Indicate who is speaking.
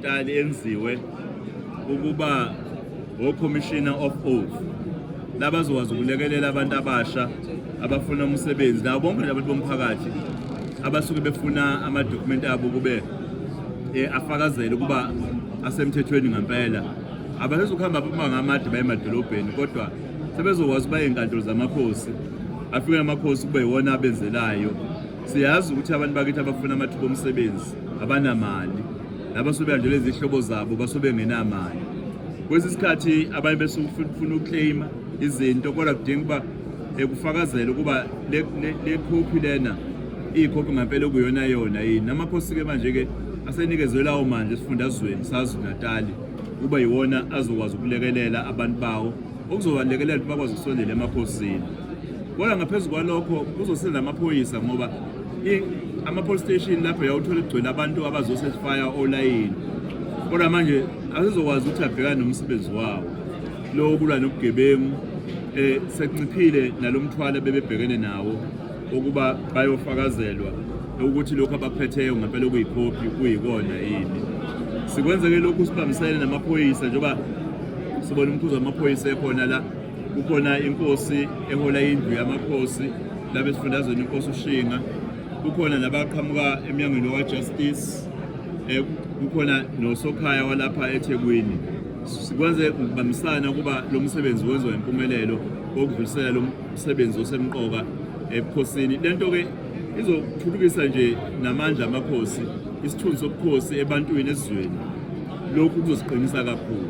Speaker 1: Tali yenziwe ukuba wo-commissioner of oath labazokwazi ukulekelela abantu abasha abafuna umsebenzi nabo bonke nje abantu bomphakathi abasuke befuna amadokhumenti abo kube eh, afakazele ukuba asemthethweni ngempela abasezokuhamba amabanga amade baye emadolobheni kodwa sebezokwazi uba iy'nkantolo zamakhosi afike namakhosi kube yiwona abenzelayo Siyazi ukuthi abantu bakithi abafuna amathuba omsebenzi abanamali nabasobe kanjalo izihlobo zabo basobe ngenamali kwesi sikhathi abanye besufuna ukuclaima izinto kodwa kudinga ukuba ekufakazela ukuba le khophi lena iyikhophi ngempela okuyona yona yini namakhosi-ke manje-ke asenikezwe lawo manje esifundazweni sazi natali kuba yiwona azokwazi ukulekelela abantu bawo okuzobalekelela ukuthi bakwazi ukusondela emaphosini kodwa ngaphezu kwalokho kuzosiza amaphoyisa ngoba ama-police station lapho yawuthola kugcwele abantu abazosesifaya olayini kodwa manje asizokwazi ukuthi abhekane nomsebenzi wawo lowo kulwa nobugebengu um sekunciphile nalo mthwalo bebebhekene nawo ukuba bayofakazelwa ukuthi lokhu abakuphetheyo ngempela okuyikhophi kuyikona yini sikwenzeke lokhu sibambisene namaphoyisa njengoba sibona umkhuzi wamaphoyisa ekhona la kukhona inkosi ehola indlu yamakhosi labe sifundazweni inkosi ushinga kukhona nabaqhamuka emnyangweni waka-justice um eh, kukhona nosokhaya walapha ethekwini sikwenze ngokubambisana ukuba lo msebenzi wenziwa impumelelo wokudlulisela umsebenzi osemqoka ebukhosini lento ke izothuthukisa nje namandla amakhosi isithunzi sobukhosi ebantwini esizweni lokhu kuzosiqinisa kakhulu